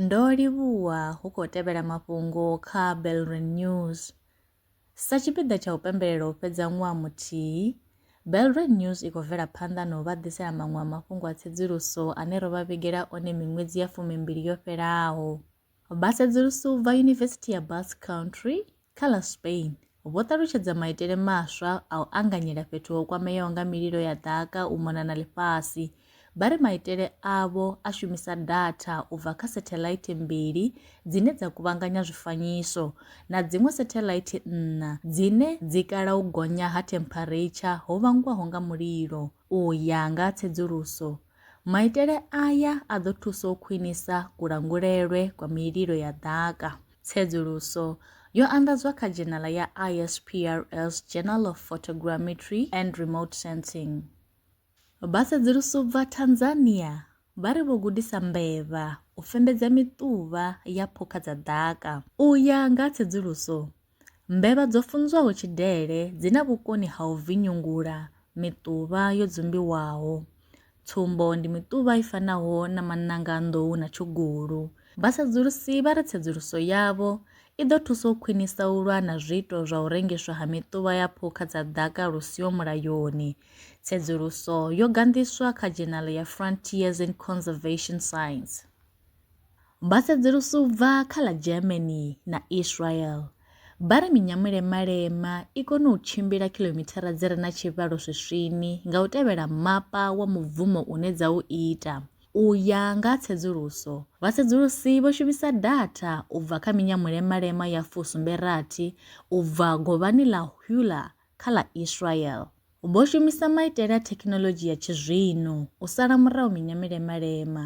Ndo livhuwa hu khou tevhela mafhungo kha Belrin News. Sa tshipiḓa tsha u pembelela u fhedza ṅwaha muthihi, Belrin News i khou bvela phanḓa na u vha ḓisela maṅwe a mafhungo a tsedzuluso ane ro vha vhigela one miṅwedzi ya fumimbili yo fhelaho. Vhasedzulusi u bva Yunivesithi ya Basque Country kha ḽa Spain vho ṱalutshedza maitele maswa a u anganyela fhethu ho kwameaho nga mililo ya ḓaka u mona na ḽifhasi. Vha ri maitele avho a shumisa datha u bva kha setheḽaithi mbili dzine dza kuvhanganya zwifanyiso na dziṅwe setheḽaithi nṋa dzine dzi kala u gonya ha themphareitsha ho vhangwaho nga mulilo, u ya nga tsedzuluso Maitele aya a ḓo thusa u khwinisa kulangulelwe kwa mililo ya ḓaka. Tsedzuluso yo anḓadzwa kha dzhenala ya ISPRS Journal of Photogrammetry and Remote Sensing. Vhasedzulusi u bva Tanzania vha ri vho gudisa mbevha u fembedza miṱuvha ya phukha dza ḓaka. U ya nga tsedzuluso, Mbevha dzo funzwaho tshidele dzi na vhukoni ha u vinyungula miṱuvha yo dzumbiwaho. Tsumbo ndi miṱuvha i fanaho na maṋanga a nḓou na tshugulu. Vhasedzulusi vha ri tsedzuluso yavho i ḓo thusa u khwinisa u lwa na zwiito zwa u rengiswa ha miṱuvha ya phukha dza ḓaka lu siho mulayoni. Tsedzuluso yo ganḓiswa kha dzhenala ya Frontiers in Conservation Science. Vha sedzulusa u bva kha ḽa Germany na Israel, vha ri minyamulemalema i kona u tshimbila khilomithara dzi re na tshivhalo swiswini nga u tevhela mapa wa mubvumo une dza u ita. U ya nga ha tsedzuluso, vhasedzulusi vho shumisa datha u bva kha minyamulemalema ya fusumbe rathi u bva govhani ḽa Hulah kha ḽa Israel. Vho shumisa maitele a thekhinoḽodzhi ya tshizwino u sala murahu minyamulemalema.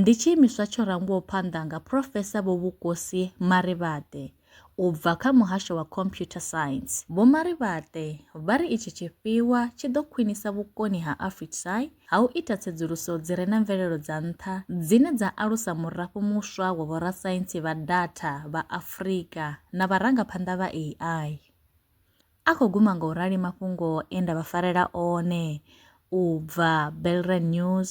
Ndi tshiimiswa tsho rangwaho phanḓa nga Phrofesa Vho Vhukosi Marivate u bva kha Muhasho wa Computer Science. Vho Marivate vha ri itshi tshifhiwa tshi ḓo khwinisa vhukoni ha Afritsai ha u ita tsedzuluso dzi re na mvelelo dza nṱha dzine dza alusa murafho muswa wa vhorasaintsi vha datha vha Afrika na vharangaphanḓa vha AI. A khou guma nga u rali mafhungo e nda vha farela one u bva Belrenews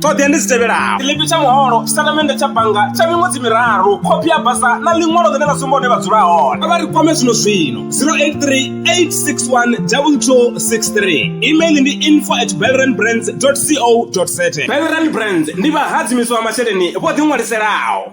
ṱhoḓea ndi dzi tevhelaho tshiḽipi tsha muholo tshitatamennde tsha bannga tsha miṅwedzi miraru khophi ya basa na ḽiṅwalo ḽine ḽa sumba hune vha dzula hone a vha ri kwame zwino zwino 0838612263 email ndi info at belrandbrands co za belrand brands ndi vhahadzimiswa masheleni vho ḓiṅwaliselaho